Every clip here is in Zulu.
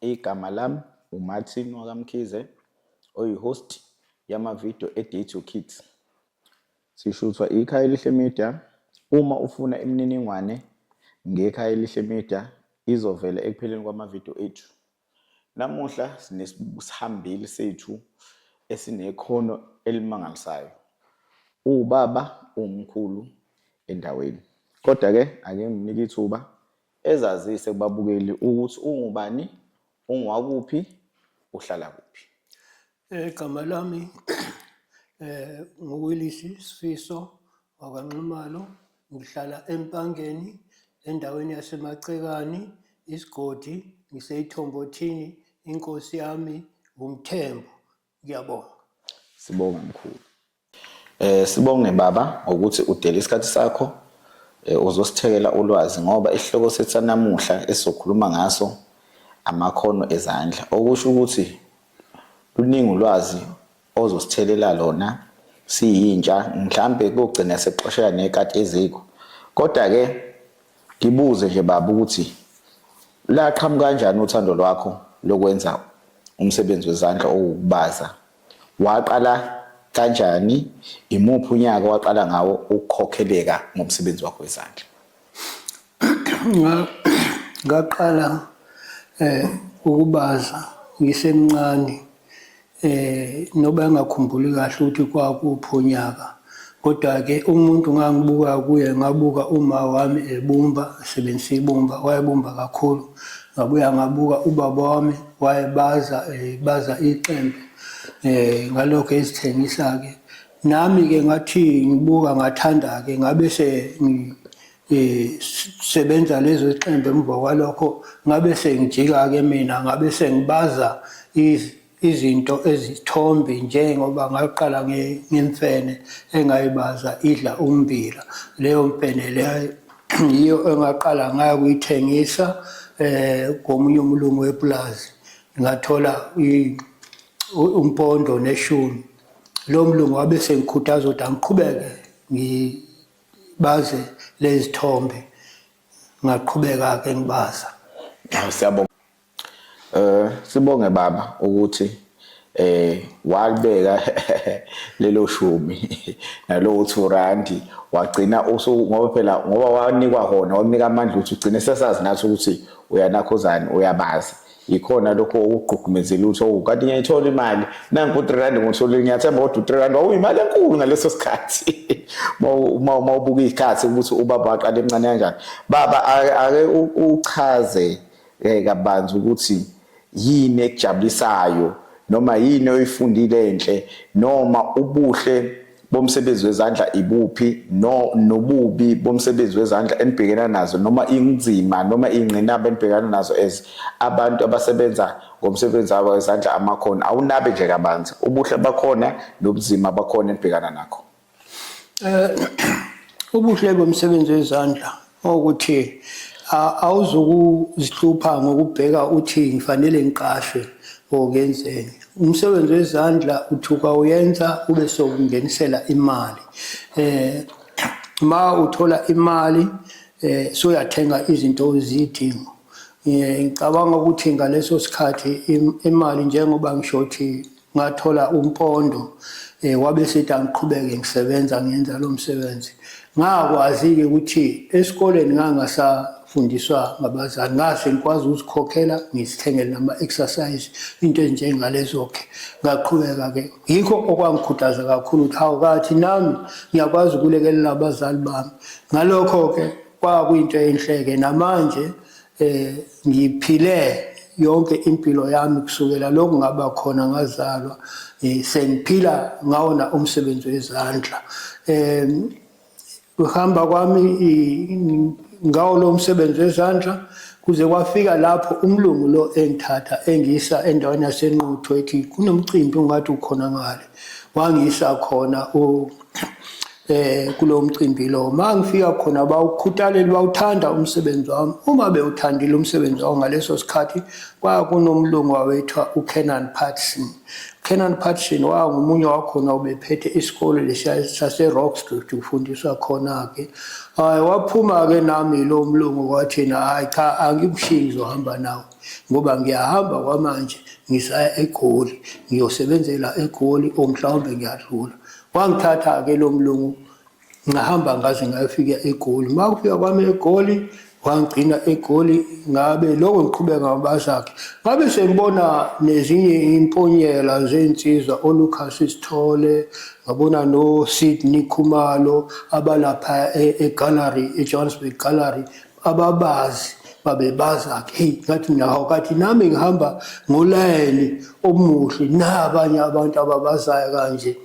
Igama lami uMartin wakaMkhize oyi-host yama-video e-Date Your Kids. Sishuthwa ikhaya elihle media. Uma ufuna imininingwane ngekhaya elihle media izovela ekupheleni kwamavidiyo ethu. Namuhla sinesihambeli sethu esinekhono elimangalisayo. Uwubaba uwumkhulu endaweni. Kodwa-ke ake nginike ithuba Ezazise kubabukeli ukuthi ungubani, ungwakuphi, uhlala kuphi. Eh, igama lami eh nguWilisi Sifiso wakwaNxumalo ngihlala eMpangeni endaweni yaseMacekani isigodi ngiseyithombothini inkosi yami ngumthembu Ngiyabonga. Sibonga mkhulu. Eh sibonge baba ngokuthi udele isikhathi sakho eh, uzosithekela ulwazi ngoba isihloko sethu sanamuhla esizokhuluma ngaso amakhono ezandla okusho ukuthi luningi ulwazi ozosithelela lona siyintsha mhlambe kugcina sexoshela nekati eziko kodwa ke Ngibuze nje baba ukuthi laqhamuka kanjani uthando lwakho lokwenza umsebenzi wezandla owukubaza waqala kanjani imuphi unyaka waqala ngawo ukukhokheleka ngomsebenzi wakho wezandla ngaqala eh ukubaza ngisemncane eh noba engakhumbuli kahle ukuthi kwakuphi unyaka kodwa-ke umuntu ngangibuka kuye ngabuka uma wami ebumba esebenzisa ibumba wayebumba kakhulu ngabuya ngabuka ubaba wami wayebaza eh, baza iqembe eh ngalokho ezithengisa-ke nami-ke ngathi ngibuka ngathanda-ke ngabe se sebenza lezo ziqembu emva kwalokho ngabe sengijika-ke mina ngabe sengibaza izinto ezithombi njengoba ngaqala ngemfene engayibaza idla umbila leyo mfene leyo yiyo engaqala ngayo kuyithengisa eh komunye umlungu wepulazi ngathola umpondo neshumi lo mlungu wabe sengikhuthaza ukuthi angiqhubeke baze lezithombe ngaqhubeka ke ngibaza siyabonga eh sibonge baba ukuthi eh walibeka lelo shumi nalo uthi urandi wagcina usu ngoba phela ngoba wanikwa hona wamnika amandla ukuthi ugcine sesazi nathi ukuthi uyanakhuzani uyabazi yikhona lokho okugqugqumezela ukuthi owu kanti ngiyayithola imali nanku u-three rand ngotholile ngiyathemba kodwa u-three rand wawuyimali enkulu ngaleso sikhathi uma ubuka iy'khathi ukuthi ubaba waqala emncane kanjani baba ake uchaze um kabanzi ukuthi yini ekujabulisayo noma yini oyifundile enhle noma ubuhle bomsebenzi wezandla ibuphi no nobubi bomsebenzi wezandla enibhekena nazo noma inzima noma ingqinamba enibhekana nazo as abantu abasebenza ngomsebenzi wabo wezandla amakhona awunabe nje kabanzi ubuhle bakhona nobuzima bakhona enibhekana nakho eh ubuhle bomsebenzi wezandla ukuthi awuzukuzihlupha ngokubheka uthi ngifanele ngiqashwe or ngenzeni umsebenzi wezandla uthuka uyenza ube sokungenisela imali eh ma uthola imali eh soyathenga izinto ozidinga eh, ngicabanga ukuthi ngaleso sikhathi imali njengoba ngisho ukuthi ngathola umpondo eh, wabe sethi angiqhubeke ngisebenza ngenza lo msebenzi ngakwazi-ke ukuthi esikoleni ngangasafundiswa ngabazali ngase ngikwazi ukuzikhokhela ngizithengele nama-exercise into ezinjengalezo-ke ngaqhubeka-ke yikho okwangikhuthaza kakhulu ukuthi hawu kathi nami ngiyakwazi ukulekelela abazali bami ngalokho-ke kwakuyinto enhle-ke namanje eh ngiphile yonke impilo yami kusukela lokhu ngaba khona ngazalwa eh, sengiphila ngawona umsebenzi wezandla eh kuhamba kwami ngawo lo msebenzi wezandla kuze kwafika lapho umlungu lo engithatha engisa endaweni yasenquthu ethi kunomcimbi ungathi ukhona ngale wangisa khona eh kulo mcimbi lo mangifika khona bawukhuthaleli bawuthanda umsebenzi wami uma bewuthandile umsebenzi wawo ngaleso sikhathi kwakunomlungu wawethwa uKenan Patson Kenan Patson wangumunye wakhona obephethe isikole lesiya saseRockstreet ufundiswa khona-ke hayi waphuma-ke nami lo mlungu wathina hhayi cha angikushiyi ngizohamba nawo ngoba ngiyahamba kwamanje ngisaya egoli ngiyosebenzela egoli or mhlawumbe ngiyadlula wangithatha-ke lo mlungu ngahamba ngaze ngayofika egoli uma kufika kwami egoli wangigcina egoli ngabe lokho ngiqhubeka ngabazakhe ngabe sengibona nezinye imponyela zensizwa olucas isithole ngabona nosydney khumalo abalapha e-gallery e-johannesburg gallery ababazi babebaza ke hey ngathi naho kathi nami ngihamba ngolayini omuhle nabanye abantu ababazayo kanje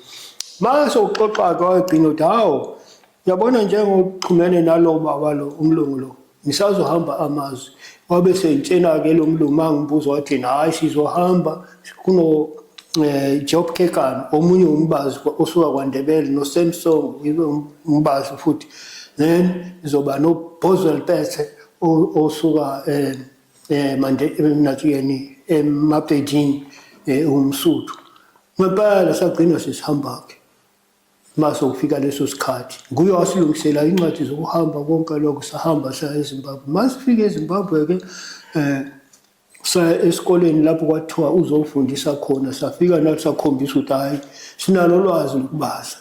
mase uxoxa ke wagcina uthi hawo yabona njengoxhumene nalo baba lo umlungu lo ngisazohamba amazwi wabe sengitshena ke lo mlungu mangibuza wathi hayi sizohamba kuno eh, Job Kekano omunye umbazi osuka kwaNdebele no Samsung ibe um-, umbazi futhi then izoba no Boswell Pete osuka eh, eh manje emnathuyeni emabhedini eh, umsuthu ngempela sagcina sesihamba ke mase ukufika leso sikhathi nguye wasilungisela incwadi zokuhamba konke lokho sahamba saya eZimbabwe masifike eZimbabwe ke eh saya esikoleni lapho kwathiwa uzofundisa khona safika nathi sakhombisa ukuthi hhayi sinalo lwazi lokubaza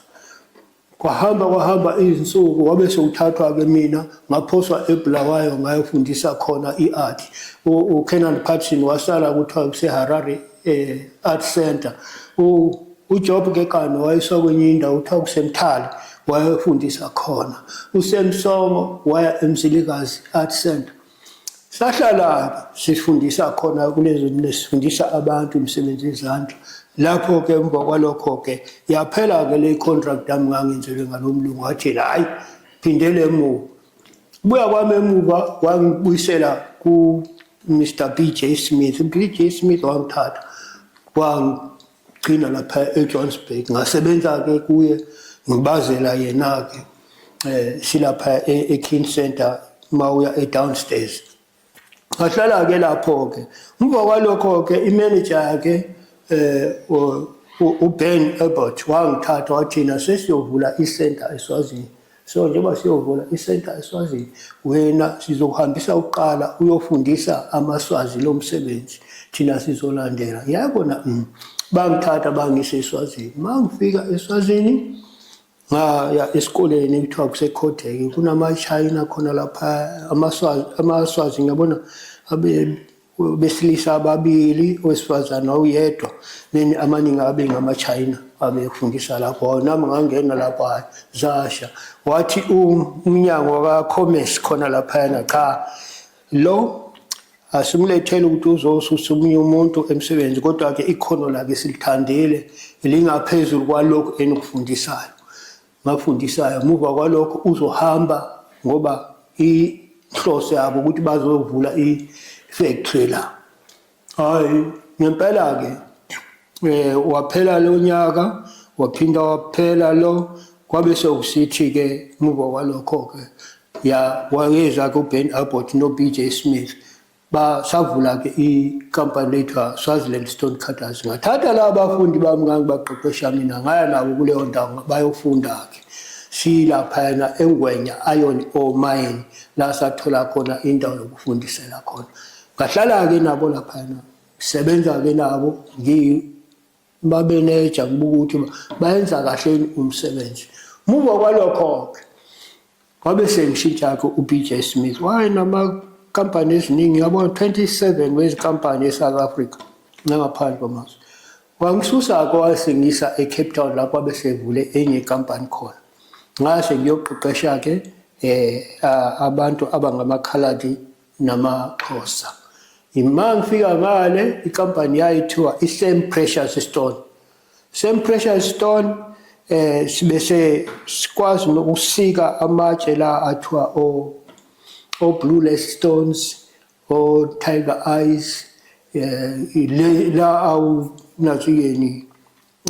kwahamba kwahamba izinsuku wabe sewuthathwa-ke mina ngaphoswa ebulawayo ngayofundisa khona i-art ukenan patson wasala kuthiwa kuseharare um eh, art center ujob kekane wayeswa kwenye indawo kuthiwa kusemthali wayefundisa khona usemsomo waya emzilikazi art center sahlala-ke sifundisa khona kulezo sifundisa abantu imisebenzi yezandla lapho-ke emva kwalokho-ke yaphela-ke le contract yami ngangenzelwe ngalo mlungu wathi yena hhayi phindele emuva buya kwami emuva wangibuyisela ku-mr b j smith u-b j smith wangithatha Gcina lapha eJohannesburg ngasebenza-ke kuye ngibazela yena-ke um silapha e-king center uma uya e-downstairs ngahlala-ke lapho-ke emva kwalokho-ke imeneja yakhe um uben ebert wangithatha wathina sesiyovula isenta eswazini so njengoba siyovula isenta eswazini wena sizokuhambisa ukuqala uyofundisa amaswazi lo msebenzi thina sizolandela yabona mm, bangithatha bangise eswazini uma ngifika eswazini ngaya esikoleni kuthiwa kusekhoteke kunamashayina khona lapha amaswazi ngiyabona besilisa ababili owesifazane wawuyedwa then amaningi abe ngamachina abefundisa lapho nami ngangena lapho hayi zasha wathi umnyango waka-commerce khona laphayana cha lo asimlethele ukuthi uzosusa omunye umuntu emsebenzi kodwa-ke ikhono lakhe silithandile lingaphezulu kwalokhu enikufundisayo ngakufundisayo muva kwalokho uzohamba ngoba inhloso yabo ukuthi bazovula i-factory la hayi ngempela-ke eh waphela lo nyaka waphinda waphela lo kwabe sekusithi-ke muva kwalokho-ke ya wayeza kuben abbott no-b j smith basavula-ke ikampani lethwa swaziland stone cutters ngathatha la bafundi bami ngangibaqeqesha mina ngaya nabo kuleyo ndawo bayofunda-ke siyilaphayana engwenya iron or mine la sathola khona indawo yokufundisela khona ngahlala-ke nabo laphayana ngisebenza-ke nabo ngibabeneja ngibuka ukuthi bayenza kahleni umsebenzi muva kwalokho-ke Kwabe sengishintsha-ke uBJ Smith wayenamakampani eziningi yabona 27 wezinkampani eSouth Africa nangaphandle kwamazwe wangisusa-ke wasengisa eCape Town lapho abe sevule enye ikampani khona ngase ngiyoqeqesha-ke um abantu abangamakhaladi namaxhosa yima ngifika ngale ikampani yayithiwa i-same precious stone Same pressure stone eh sibese sikwazi nokusika amatshe la athiwa o o blue stones o tiger eyes eh la awu nathi yeni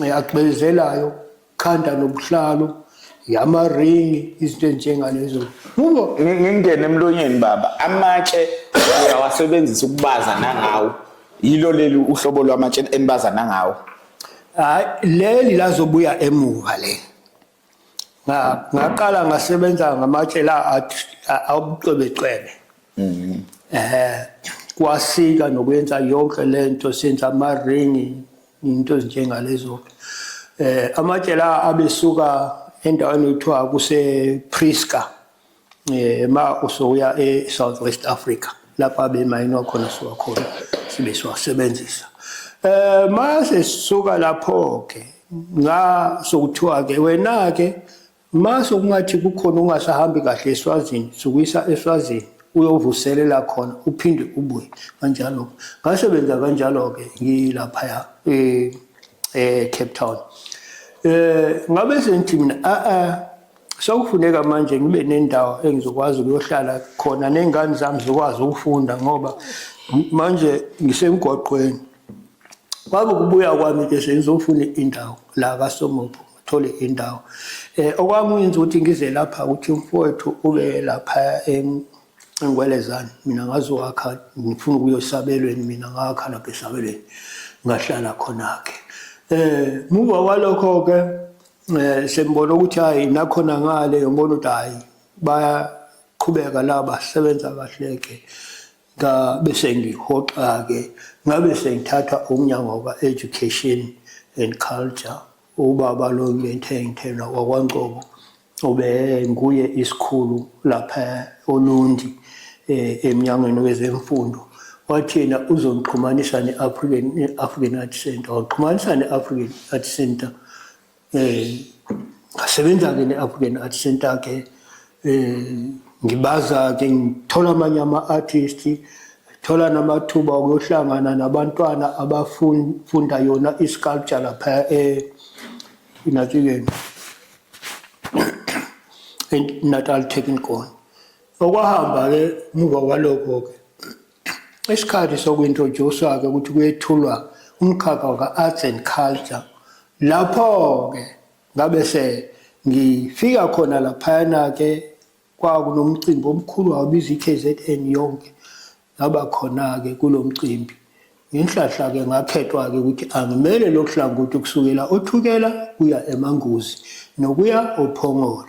eh, agcwezelayo khanda nobuhlalo yamaringi izinto njengalezo ngoba ngingene emlonyeni baba amatshe uyawasebenzisa ukubaza nangawo yilo leli uhlobo lwamatshe enibazana ngawo hayi leli lazobuya emuva le ngaqala ngasebenza ngamatshe la abucwebecwebe mhm. eh kwasika nokwenza yonke lento senza ama ring into ezinjengalezo eh amatshe la abesuka endaweni ekuthiwa kuse Prisca eh ma usoya e South West Africa lapha bemayinwa khona siwa khona sibe siwasebenzisa eh mase sisuka lapho ke nga sokuthiwa ke wena ke mase kungathi kukhona ungasahambi kahle eswazini sukuyisa eswazini uyovuselela khona uphinde ubuye kanjalo ngasebenza kanjalo ke ngilapha eh eh Cape Town eh ngabe sengithi mina a a Sekufuneka manje ngibe nendawo engizokwazi ukuyohlala khona ney'ngane zami zikwazi ukufunda ngoba manje ngisemgwaqweni. Kwabe ukubuya kwami ke sengizofuna indawo la kaSomopho ngithole indawo. Eh okwangenza ukuthi ngize lapha ukuthi umfowethu ube lapha engwelezane mina ngazowakha ngifuna ukuyosabelweni mina ngakha lapha esabelweni ngahlala khona ke. Eh muva walokho ke um sengibona ukuthi hhayi nakhona ngale ngibona ukuthi hhayi bayaqhubeka laba sebenza kahle-ke ngabe sengihoxa-ke ngabe sengithatha umnyango ka-education and culture ubaba lo ngentengithela wakwancobo ube nguye isikhulu lapha olundi eh, emnyangweni wezemfundo wathina uzongixhumanisa ne-african african art center waqhumanisa ne-african art center eh ngasebenza ke ne-African Art Center ke eh ngibaza ke ngithola amanye ama-artist thola namathuba okuyohlangana nabantwana abafunda yona i-sculpture lapha eNatileni eh, Natal Technical okwahamba ke muva kwalokho ke Isikhathi sokuintroduce-ke ukuthi kuyethulwa umkhakha waka-arts and culture lapho-ke ngabe se ngifika khona laphayana-ke kwakunomcimbi omkhulu wabiza i-kzn yonke ngaba khona-ke kulo mcimbi ngenhlahla-ke ngakhethwa-ke ukuthi angimele lokhu hlangothi kusukela othukela kuya emanguzi nokuya ophongolo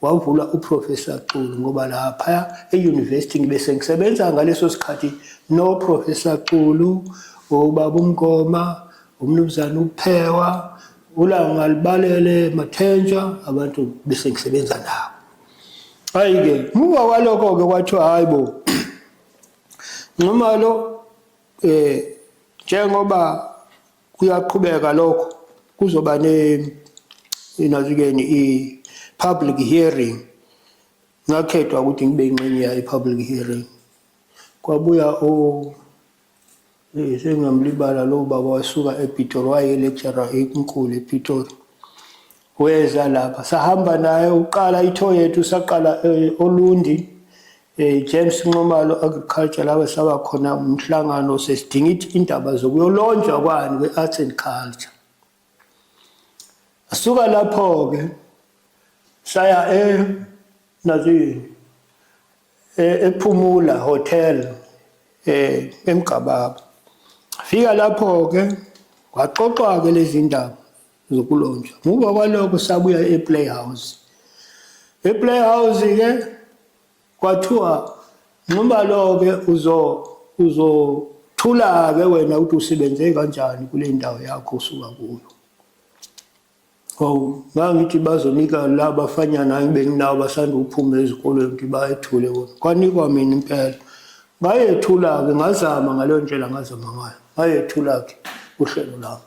wavula uProfessor Xulu ngoba laphaya e-university ngibe sengisebenza ngaleso sikhathi noProfessor Xulu, uBaba uMngoma, uMnumzane uPhewa, uLanga Libalele, Mathenja, abantu bese ngisebenza nabo. Hayi-ke, muva kwalokho-ke kwathiwa hhayi bo, Nxumalo um njengoba kuyaqhubeka lokho kuzoba ne inazikeni i-public hearing ngakhethwa ukuthi ngibe ingxenye yayo i-public hearing kwabuya o eh, sengamlibala lo baba wasuka epitori wayelecturer enkulu epitori weza lapha sahamba naye uqala ithoyethu saqala eh, olundi Eh James Nxumalo agriculture lawe saba khona umhlangano sesidinga ithi indaba zokuyolonjwa kwani we arts and culture. Asuka lapho ke saya e nazini e, ephumula hotel eh emgababa. Fika lapho ke waxoxwa ke lezindaba zokulonjwa muva kwalokho sabuya eplayhouse eplayhouse ke kwathiwa nxuba lo-ke uzo uzothula-ke wena ukuthi usebenze kanjani kule ndawo yakho usuka kuyo hawu ngangithi bazonika la bafanyana engibenginawo basanda ukuphuma ezikolweni ukuthi bayethule wona kwanikwa mina impela ngayethula-ke ngazama ngaleyo ndlela ngazama ngayo ngayethula-ke uhlelo lami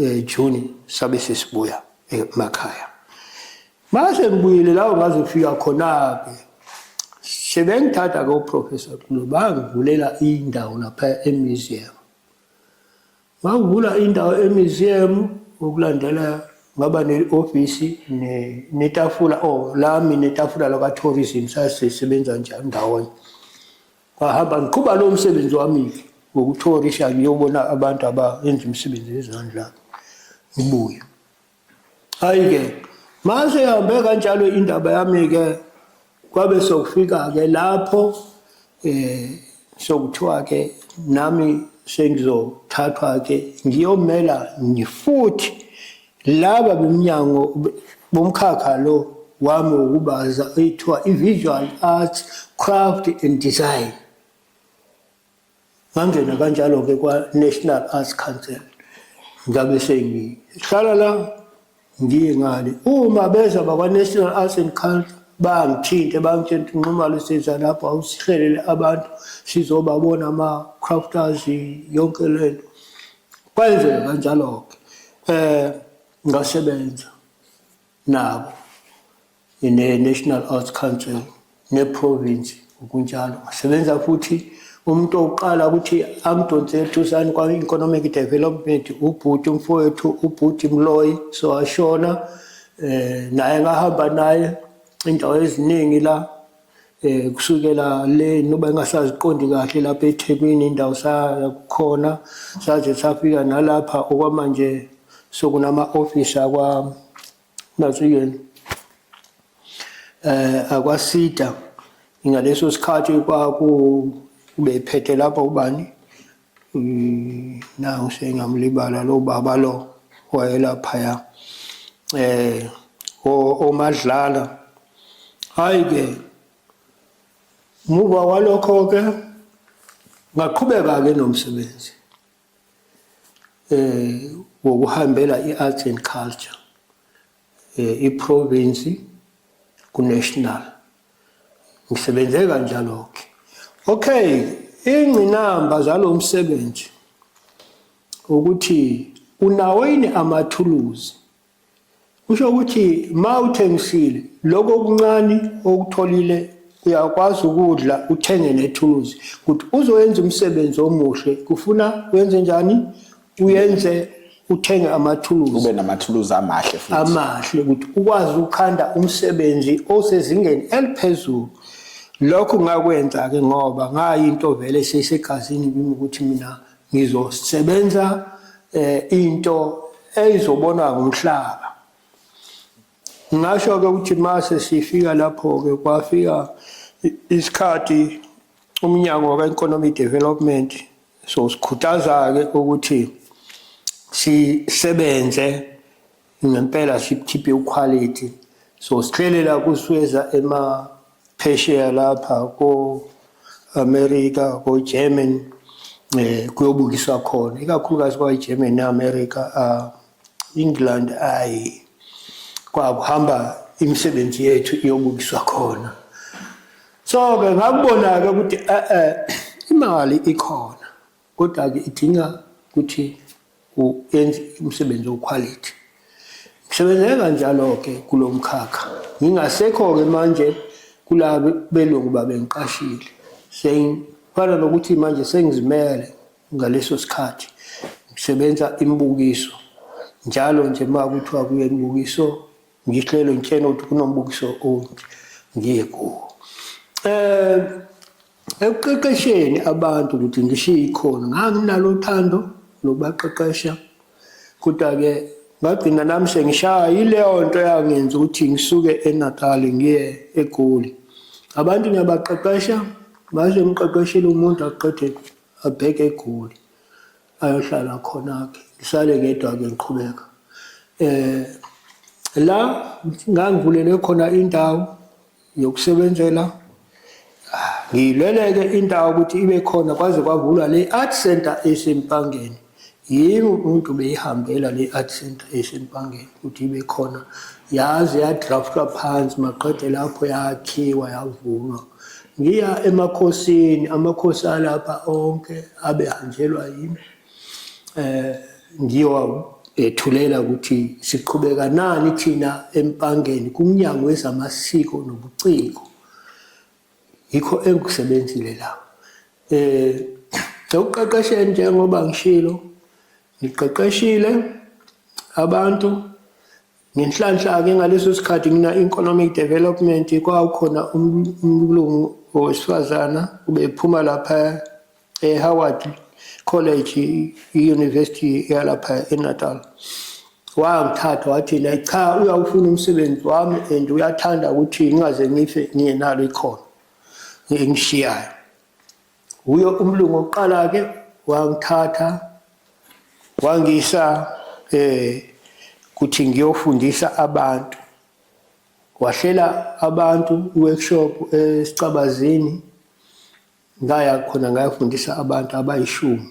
eh, June sabe sesibuya emakhaya mase ngibuyile lawo ngazofika khona-ke sebengithatha-ke uprofessor Xulu bangivulela indawo lapha emuseum ngangivula indawo emuseum ukulandela ngaba ne-ofisi netafula o oh, lami netafula lakwa-tourism sasisebenza njani ndawonye Ngahamba ngiqhuba lowo msebenzi wami-ke wokuthorisha ngiyobona abantu abayenza imisebenzi yezandla ngibuye. Hhayi-ke mase ihambe kanjalo indaba yami-ke kwabe sokufika-ke lapho um sokuthiwa-ke nami sengizothathwa-ke ngiyomela ngifuthi Laba beMnyango bomkhakha lo wami wokubaza oyithiwa i-Visual Arts, Craft and Design. Ngangena kanjalo-ke kwa-National Arts Council, ngabe sengihlala la ngiye ngale. Uma beza bakwa-National Arts and Culture bangithinte bangitshela ukuthi nxumalo siza lapho awusihlelele abantu sizobabona ama-crafters yonke lento Kwenzeka kanjalo-ke um ngasebenza nabo ne-National Arts Council ne-province ngokunjalo ngasebenza futhi umuntu oqala ukuthi angidonsele ethusani kwa-economic development ubhuti umfowethu ubhuti mloyi so ashona um naye ngahamba naye indawo eziningi la eh kusukela le noba engasaziqondi kahle lapha eThekwini indawo sakhona saze safika nalapha okwamanje sokunama office akwa nazuyeni eh akwasida ngaleso sikhathi kwaku ubephethe lapha ubani Mm, nawu sengamlibala lo baba lo wayelaphaya eh omadlala hayi ke muva walokho ke ngaqhubeka ke nomsebenzi eh wokuhambela i-arts and culture eh, iprovinsi kunational ngisebenze kanjalo ke okay ingqinamba zalo msebenzi ukuthi unawo yini amathuluzi kusho ukuthi ma uthengisile lokho okuncane okutholile uyakwazi ukudla uthenge nethuluzi ukuthi uzoyenza umsebenzi omuhle kufuna wenze njani uyenze uthenge amathuluzi ube namathuluzi amahle futhi amahle ukuthi ukwazi ukukhanda umsebenzi osezingeni eliphezulu lokho ngakwenza ke ngoba ngayinto vele sesegazini kimi ukuthi mina ngizosebenza eh into eyizobonwa ngumhlaba ngasho ke ukuthi mase sifika lapho ke kwafika isikhathi umnyango ka economic development so sikhuthaza-ke ukuthi sisebenze ngempela sikhiphe ukhwalithi so sihlelela kusweza emaphesheya lapha ko-amerika ko-german um kuyobukiswa khona ikakhulukazi kwayi-german ne-amerika um England ayi kwakuhamba imisebenzi yethu iyobukiswa khona so ke ngakubona-ke ukuthi e-e imali ikhona kodwa-ke idinga ukuthi uyenze umsebenzi okhwalithi ngisebenzeke kanjalo-ke kulo mkhakha ngingasekho-ke manje kula belungu babengiqashile sengifana nokuthi manje sengizimele Ngaleso sikhathi ngisebenza imibukiso njalo nje uma kuthiwa kuye imibukiso ngihlelo ngitshena ukuthi kunombukiso onje ngiye kuwo eh ekuqeqesheni abantu ukuthi ngishiye ikhono nganginalo uthando lokubaqeqesha kodwa-ke ngagcina nami sengishaya yileyo nto yangenza ukuthi ngisuke enatali ngiye egoli abantu ngiyabaqeqesha baze mqeqeshile umuntu aqede abheke egoli ayohlala khona-ke ngisale ngedwa-ke ngiqhubeka um la ngangivulele khona indawo yokusebenzela ngiyilele-ke indawo ukuthi ibe khona kwaze kwavulwa le-art center esempangeni Yini umuntu beyihambela le art center eSempangeni ukuthi ibe khona yaze yadraftwa phansi maqede lapho yakhiwa yavunwa. Ngiya emakhosini, amakhosi alapha onke abehanjelwa yimi. Eh ngiyowabethulela ukuthi siqhubeka nani thina eMpangeni kumnyango wezamasiko nobuciko. yikho engikusebenzile la eh sekuqeqesheni njengoba ngishilo ngiqeqeshile abantu ngenhlanhla ke ngaleso sikhathi ngina economic development kwakukhona umlungu owesifazana ubephuma lapha eHoward College i-University yalapha eNatal wangithatha wathi naye cha uyawufuna umsebenzi wami and uyathanda ukuthi ngingaze ngife ngingenalo ikhono engishiyayo wuyo umlungu oqala-ke wangithatha wangisa eh kuthi ngiyofundisa abantu wahlela abantu workshop esicabazini ngaya khona ngayafundisa abantu abayishumi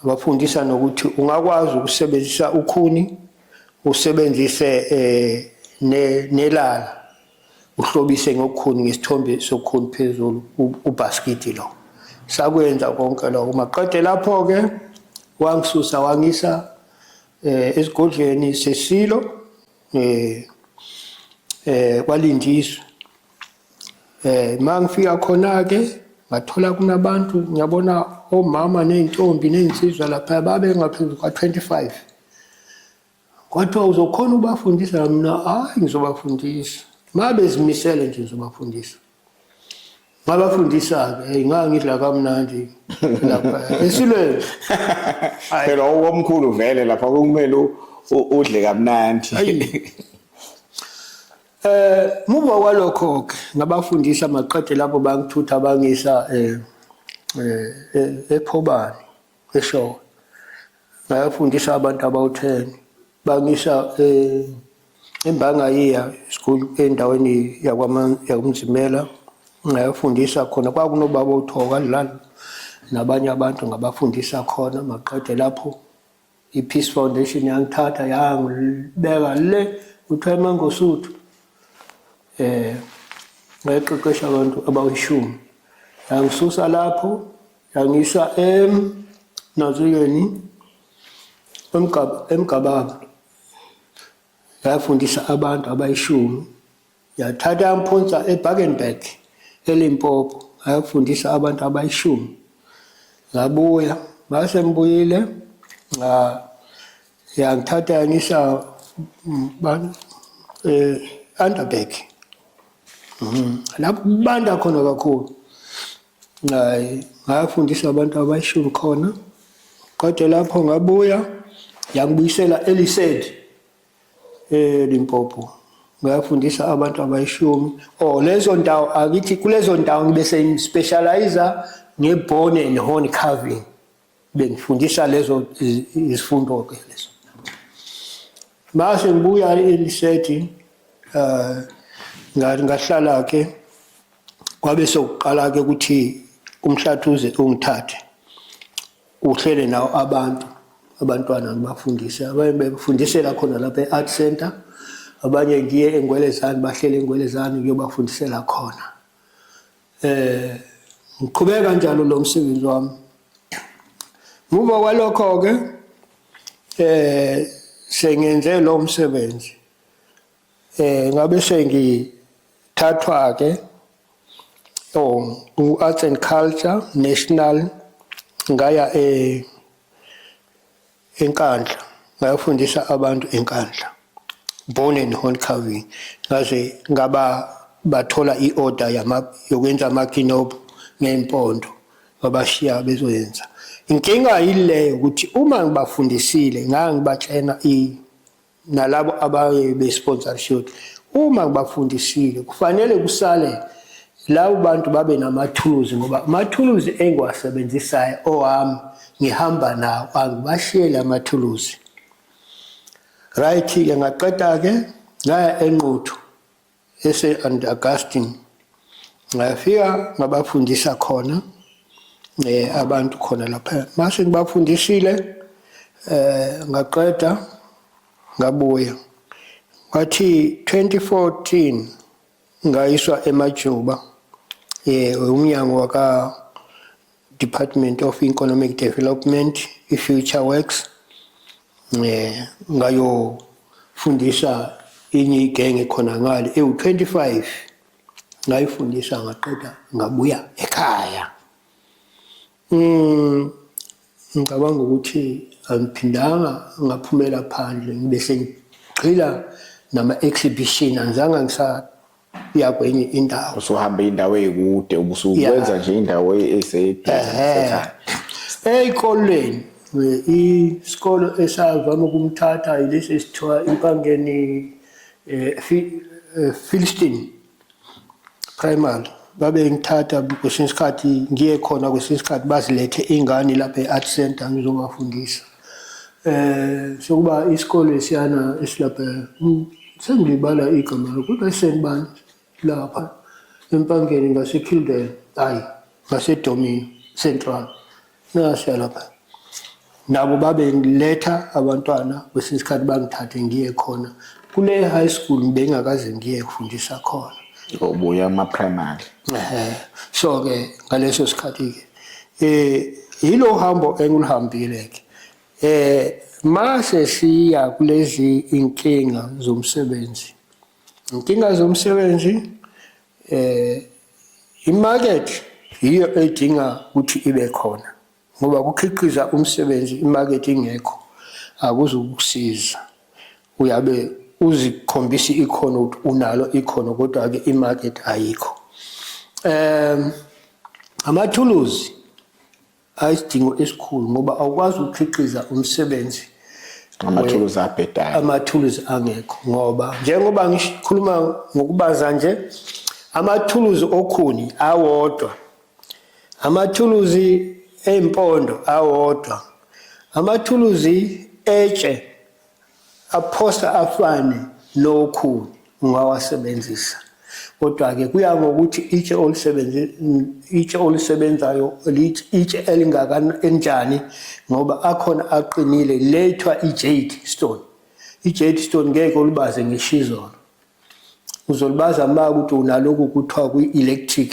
ngabafundisa nokuthi ungakwazi ukusebenzisa ukhuni usebenzise eh nelala uhlobise ngokukhuni ngesithombe sokhuni phezulu ubhaskidi lo sakwenza konke lokho maqede lapho-ke wangisusa wangisa um eh, esigodlweni sesilo um um kwalindiswa Eh mangifika khona ke ngathola kunabantu ngiyabona omama nezintombi nezinsizwa lapha babe ngaphezulu kwa 25 kwathiwa uzokhona ubafundisa mina hayi ngizobafundisa mabe zimisele nje ngizobafundisa ngabafundisa-ke eyi ngangidla kamnandi lapha esilweni phela okomkhulu vele lapha kumele udle kamnandi Eh muva kwalokho ke ngabafundisa maqede lapho bangithutha bangisa eh eh ephobani esho ngayafundisa abantu abawu10 bangisa eh embanga yiya school endaweni yakwaman yakumzimela ngayafundisa khona kwakunobaba uthoka lana nabanye abantu ngabafundisa khona maqede lapho I-Peace Foundation yangithatha yangibeka le kuthiwa eMangosuthu eh ngayiqeqesha abantu abawishumi yangisusa lapho yangisa em nazuyeni emgababa yafundisa abantu abayishumi Yathatha yamphonsa eBakenberg eLimpopo ngayofundisa abantu abayishumi ngabuya ngase ngibuyile nga yangithatha yangisa bani eh Underberg mhm. lapho kubanda khona kakhulu ngayi ngayafundisa abantu abayishumi khona kodwa lapho ngabuya yangibuyisela elisedi eLimpopo eh, ngayafundisa abantu abayishumi oh lezo ndawo akithi kulezo ndawo ngibe sengispecializa ngebone and horn carving bengifundisa lezo izifundo ke lezo mase ngibuya elisethi uh eh, ngahlala ke kwabe sokuqala ke ukuthi umhlathuze ungithathe Uhlele nawo abantu abantwana ngibafundise abanye befundisela khona lapha e-art center abanye ngiye engwelezane bahlele engwelezane ngiyobafundisela khona eh ngiqhubeka njalo lo msebenzi wami muva kwalokho ke eh sengenze lo msebenzi eh ngabe sengithathwa ke oh u arts and culture national ngaya e enkandla ngayofundisa abantu enkandla born and horn carving ngaze ngaba bathola i-order yokwenza amakinobhu ngempondo babashiya bezoyenza inkinga yileyo ukuthi uma ngibafundisile ngangibatshena i nalabo abaye be-sponsorship uma kubafundisile kufanele kusale labo bantu babe namathuluzi ngoba amathuluzi engiwasebenzisayo owami ngihamba nawo angibashiyele amathuluzi right-ke ngaqeda-ke ngaya enquthu eSt Augustine ngafika ngabafundisa khona eh abantu khona lapha mase ngibafundisile eh ngaqeda ngabuya wathi 2014 ngayiswa emajuba eh umnyango waka Department of Economic Development i-Future Works eh ngayo fundisa inye igenge khona ngale ewu25 ngayifundisa ngaqeda ngabuya ekhaya mm ngicabanga ukuthi angiphindanga ngaphumela phandle ngibe sengigxila nama exhibition angizange ngisa uya kwenye indawo usuhamba indawo eyikude ubusukwenza nje indawo esesekhaya eyikolweni isikolo esavama ukumthatha ilesi esithiwa impangeni eh, eh, Philistine primary babe ngithatha kwesinye isikhathi ngiye khona kwesinye isikhathi bazilethe ingane lapha e-art center ngizobafundisa eh sokuba isikole siyana esilapha hmm, sengilibala igama lo kodwa isenibani lapha empangeni ngasekildale hayi ngasedomini central nasiya lapha nabo babengiletha abantwana kwesinye isikhathi bangithathe ngiye khona kule high school bengakaze ngiye kufundisa khona obuya ama-primary so-ke ngaleso sikhathi-ke eh yilo hambo engilihambile ke eh mase siya kulezi inkinga zomsebenzi inkinga zomsebenzi eh imarket yiyo edinga ukuthi ibe khona ngoba kukhiqiza umsebenzi imarket ingekho akuzukusiza Uyabe uzikhombisa ikhono ukuthi unalo ikhono kodwa ke imarket ayikho. Um amathuluzi ayisidingo esikhulu ngoba awukwazi ukukhiqiza umsebenzi amathuluzi abhedayo amathuluzi angekho ngoba njengoba ngikhuluma ngokubaza nje amathuluzi okhuni awodwa amathuluzi empondo awodwa amathuluzi etshe aphosta afane nokhuni ungawasebenzisa kodwa-ke kuya ngokuthi itshe itshe olusebenzayo itshe elinjani ngoba akhona aqinile le kuthiwa i-jade stone i-jade stone ngeke ulibaze ngeshizolo uzolibaza uma ukuthi unaloku kuthiwa kwi-electric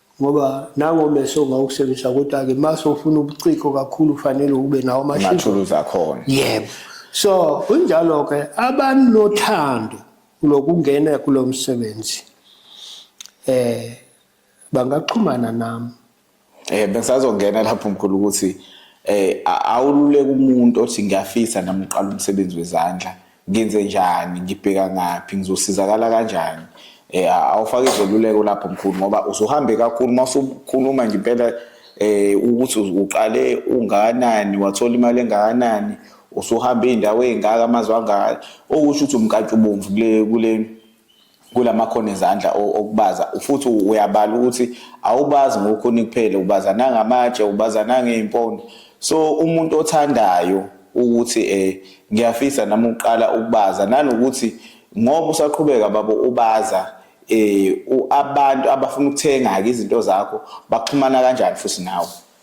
ngoba nango meso ngawukusebenzisa kodwa-ke uma sofuna ubuciko kakhulu kufanele ube nawo amathuluzi akhona yebo so kunjalo-ke abanothando lokungena kulo msebenzi eh bangaxhumana nami eh bengisazongena lapho mkhulu ukuthi eh awululeka umuntu othi ngiyafisa nami uqala umsebenzi wezandla ngenze njani ngibheka ngaphi ngizosizakala kanjani eh awufake izeluleko lapho mkhulu ngoba usuhambe kakhulu masukhuluma nje impela eh ukuthi uqale ungakanani wathola imali engakanani usuhambe indawo ezingaka amazwe angaka okusho ukuthi umkantshubomvu kule kule kulamakhono ezandla okubaza futhi uyabala ukuthi awubazi ngokhuni kuphela ubaza nangamatshe ubaza nangeimpondo so umuntu othandayo ukuthi eh ngiyafisa nami uqala ukubaza nanokuthi ngoba usaqhubeka babo ubaza eh abantu abafuna ukuthenga ke izinto zakho baxhumana kanjani futhi nawe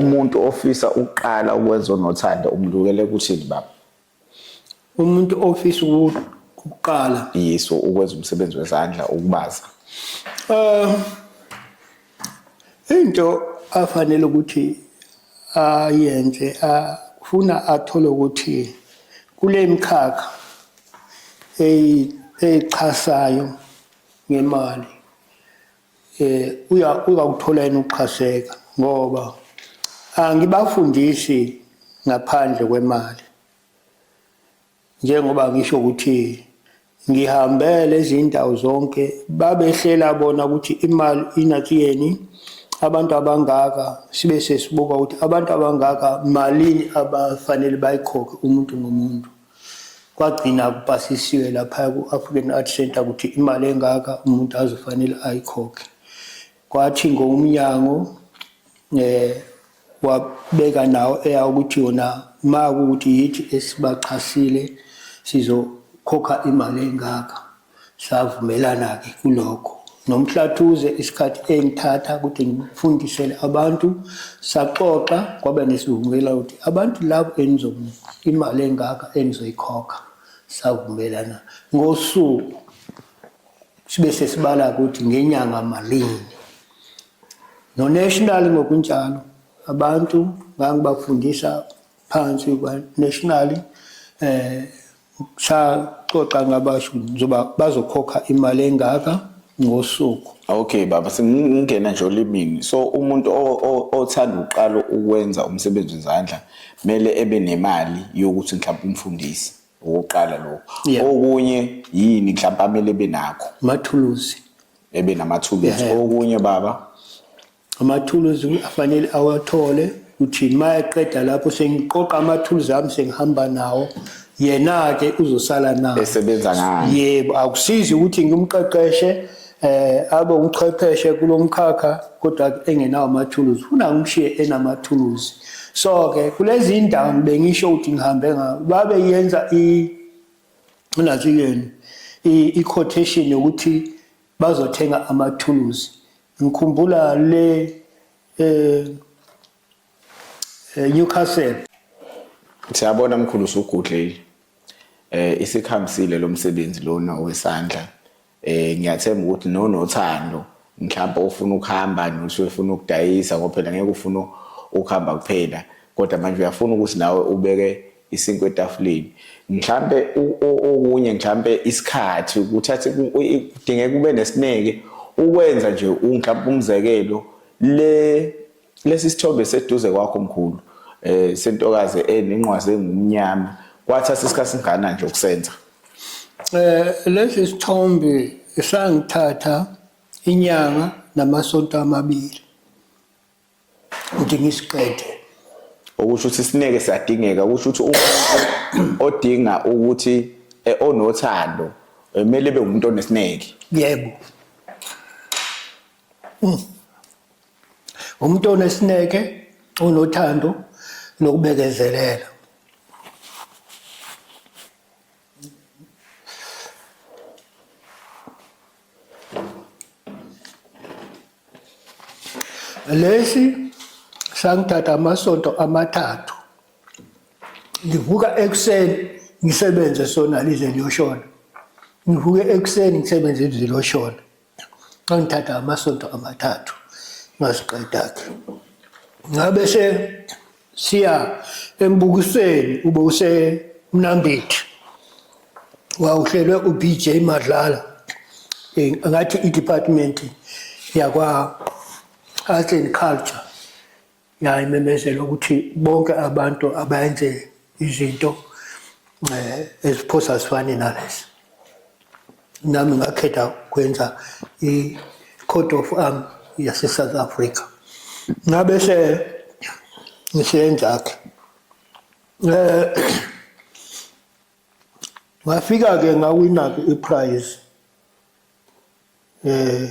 umuntu ofisa ukuqala ukwenza unothando umlukele kuthini baba umuntu ofisa ukuqala yiso ukwenza umsebenzi wezandla ukubaza um into afanele ukuthi ayenze ufuna athole ukuthi kule mkhakha eyichasayo ngemali eh uya uyakuthola yena uxhaseka ngoba angibafundisi ngaphandle kwemali njengoba ngisho ukuthi ngihambele izindawo zonke babehlela bona ukuthi imali inathi yeni abantu abangaka sibe sesibuka ukuthi abantu abangaka malini abafanele bayikhokhe umuntu ngomuntu kwagcina kupasisiwe lapha ku-african art center ukuthi imali engaka umuntu azofanele ayikhokhe kwathi ngomnyango um eh, wabeka nawo eya ukuthi yona uma kuwukuthi yithi esibaxhasile sizokhokha imali engaka Savumelana-ke kulokho noMhlathuze isikhathi engithatha ukuthi ngifundisele abantu saxoxa kwaba nesivumela ukuthi abantu labo enizomnika imali engaka enizoyikhokha savumelana ngosuku sibe sesibala ukuthi ngenyanga malini nonational ngokunjalo abantu ngangibafundisa phansi nationally eh saxoxa ngabasho njoba bazokhokha imali engaka ngosuku okay baba singingena nje olimini so umuntu othanda uqala ukwenza umsebenzi wezandla mele ebe nemali yokuthi mhlawumbe umfundisi ukuqala lokho okunye yini mhlawumbe amele benakho mathuluzi ebe namathuluzi okunye baba amathuluzi afanele awathole uthini uma eqeda lapho sengiqoqa amathuluzi ami sengihamba nawo yena-ke uzosala nawo esebenza ngayo yebo akusizi ukuthi ngimqeqeshe eh abe umchwepheshe kulomkhakha kodwa engenawo amathuluzi funa ngimshiye enamathuluzi so ke kulezi indawo bengisho ukuthi ngihambe ngawo babe yenza i unathi yena i quotation yokuthi bazothenga amathuluzi Ngikhumbula le eh, eh Newcastle. Siyabona mkhulu usugudlile. Eh isikhambisile lo msebenzi lona owesandla. Eh ngiyathemba ukuthi no nothando mhlawumbe ufuna ukuhamba nothi ufuna ukudayisa ngoba phela ngeke ufuna ukuhamba kuphela kodwa manje uyafuna ukuthi nawe ubeke isinkwa etafuleni mhlampe okunye mhlampe isikhathi ukuthathe kudingeka ube nesineke ukwenza nje mhlampe umzekelo le lesi sithombe seduze kwakho mkhulu eh sentokazi enenqwazi engumnyama kwathatha isikhathi singana nje ukusenza eh lesi sithombe sangithatha inyanga namasonto amabili udinga isiqede okusho ukuthi sineke siyadingeka kusho ukuthi umuntu odinga ukuthi eh, onothando eh, kumele ebe umuntu onesineke yebo hmm. umuntu onesineke onothando nokubekezelela lesi sangithatha amasonto amathathu ngivuka ekuseni ngisebenze sona lize liyoshona ngivuke ekuseni ngisebenze lize liyoshona ngangithatha amasonto amathathu ngasiqeda-ke ngabe se siya embukisweni ube usemnambithi wawuhlelwe uBJ Madlala eh, ngathi i-department yakwa Arts and Culture yayimemezela ukuthi bonke abantu abayenze izinto eh, eziphosa sifane nalezi nami ngakhetha kwenza i-court of arm yase-south africa ngabe se ngiseyenza-ke um eh, ngafika-ke ngawina-ke iprize eh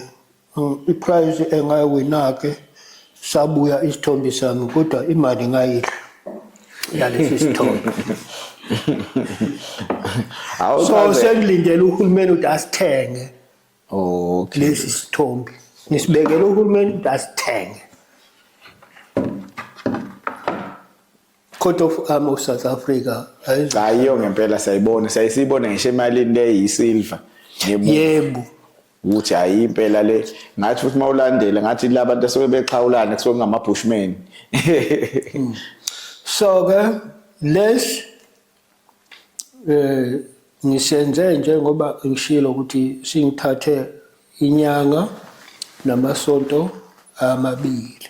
iprize engawina ke sabuya isithombe sami kodwa imali ngayidla yalesi sithombe so sengilindele uhulumeni ukuthi asithenge okay lesi sithombe ngisibekele uhulumeni ukuthi asithenge Court of Arm of South Africa. Hayi yo ngempela sayibona, sayisibona ngisho emalini le yisilver. Yebo. Ukuthi hayi impela le ngathi futhi mawulandela ngathi labantu asuke bexhawulana kusuke ngama bushman. Hmm. So ke les eh ngisenze njengoba ngishilo ukuthi singithathe inyanga namasonto amabili.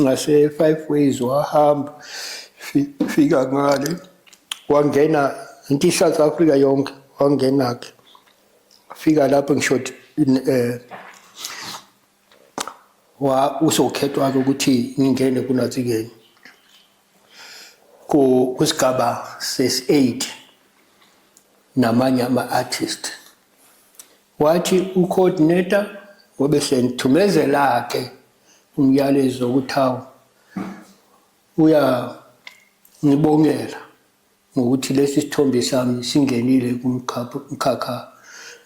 ngase-five ways wahamba fika ngale wangena into i-south africa yonke wangena-ke fika lapho ngishoti um eh, usokhethwa-ke ukuthi ngingene kunatsikeni kusigaba sesi-eight namanye ama-artist wathi u-coordinator ngobe senithumezela-ke umyalezo wokuthi hawu uyangibongela ngokuthi lesi sithombe sami singenile kumkhakha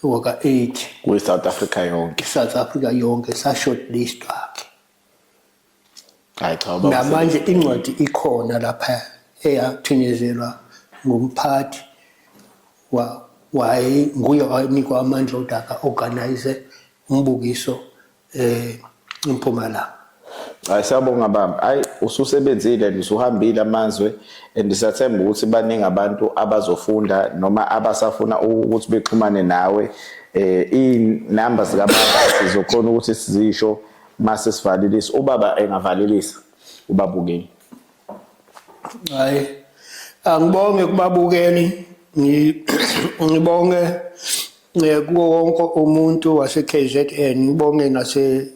waka-8 kwi-south africa yonke south africa yonke sa-shortlist wakhe namanje incwadi ikhona lapha eyathinyezelwa ngumphathi waye nguye wanikwa amandla odaka organize umbukiso eh impumalanga Hayi siyabonga baba. Hayi ususebenzile and usuhambile amazwe and siyathemba ukuthi baningi abantu abazofunda noma abasafuna ukuthi bexhumane nawe. Eh inamba zika baba sizokhona ukuthi sizisho mase sivalelisa. Ubaba engavalelisa ubabukeni. hayi angibonge kubabukeli ngibonge eh, kuwo wonke umuntu wase-kzn ngibonge nase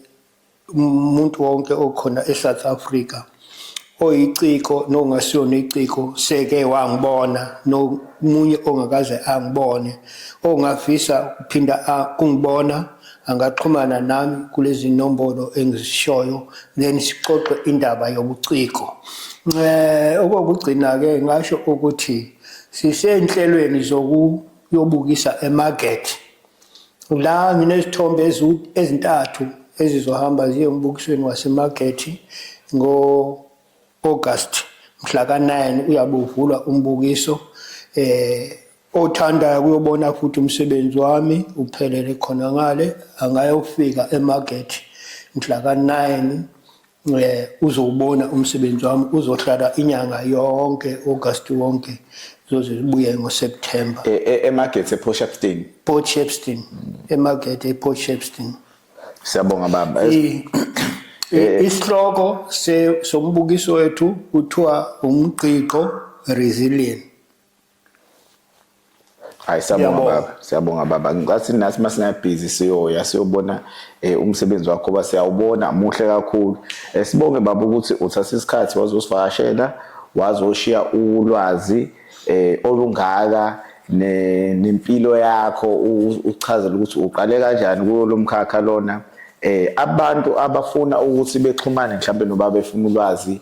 umuntu wonke okhona e-south africa oyiciko nongasiyona iciko seke wangibona nomunye ongakaze angibone ongafisa ukuphinda ungibona angaxhumana nami kulezi nombolo engizishoyo then sixoxe indaba yobuciko eh okokugcina ke ngasho ukuthi sisenhlelweni zokuyobukisa emarket la nginesithombe ezintathu ezizohamba ziye embukisweni wasemarket ngo August mhla ka-9 uyabe uvulwa umbukiso eh Othandayo kuyobona futhi umsebenzi wami uphelele khona ngale angayofika emarket mhla ka-9 um eh, uzowubona umsebenzi wami uzohlala inyanga yonke august wonke zoze zibuye ngoseptemba e, e, emarket eport shepston port shepston emarket eport shepston siyabonga baba eh, isihloko sombukiso wethu kuthiwa umqiqo resilient hayi siyabonga baba siyabonga baba ngicathi nathi uma singabhizi siyoya siyobona um umsebenzi wakho uba siyawubona muhle kakhulu um sibonge baba ukuthi uthatha isikhathi wazosivakashela wazoshiya ulwazi um olungaka nempilo yakho uchazela ukuthi uqale kanjani kuyo lo mkhakha lona eh abantu abafuna ukuthi bexhumane mhlawumbe noba befuna ulwazi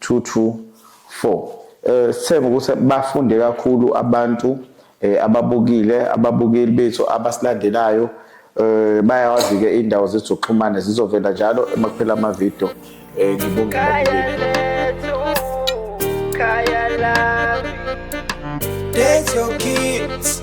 224 eh sithemba ukuthi bafunde kakhulu abantu eh, ababukile ababukeli bethu abasilandelayo eh bayawazi ke indawo zethu zokuxhumana zizovela njalo emakuphela ama video eh ngibonga That's your kids.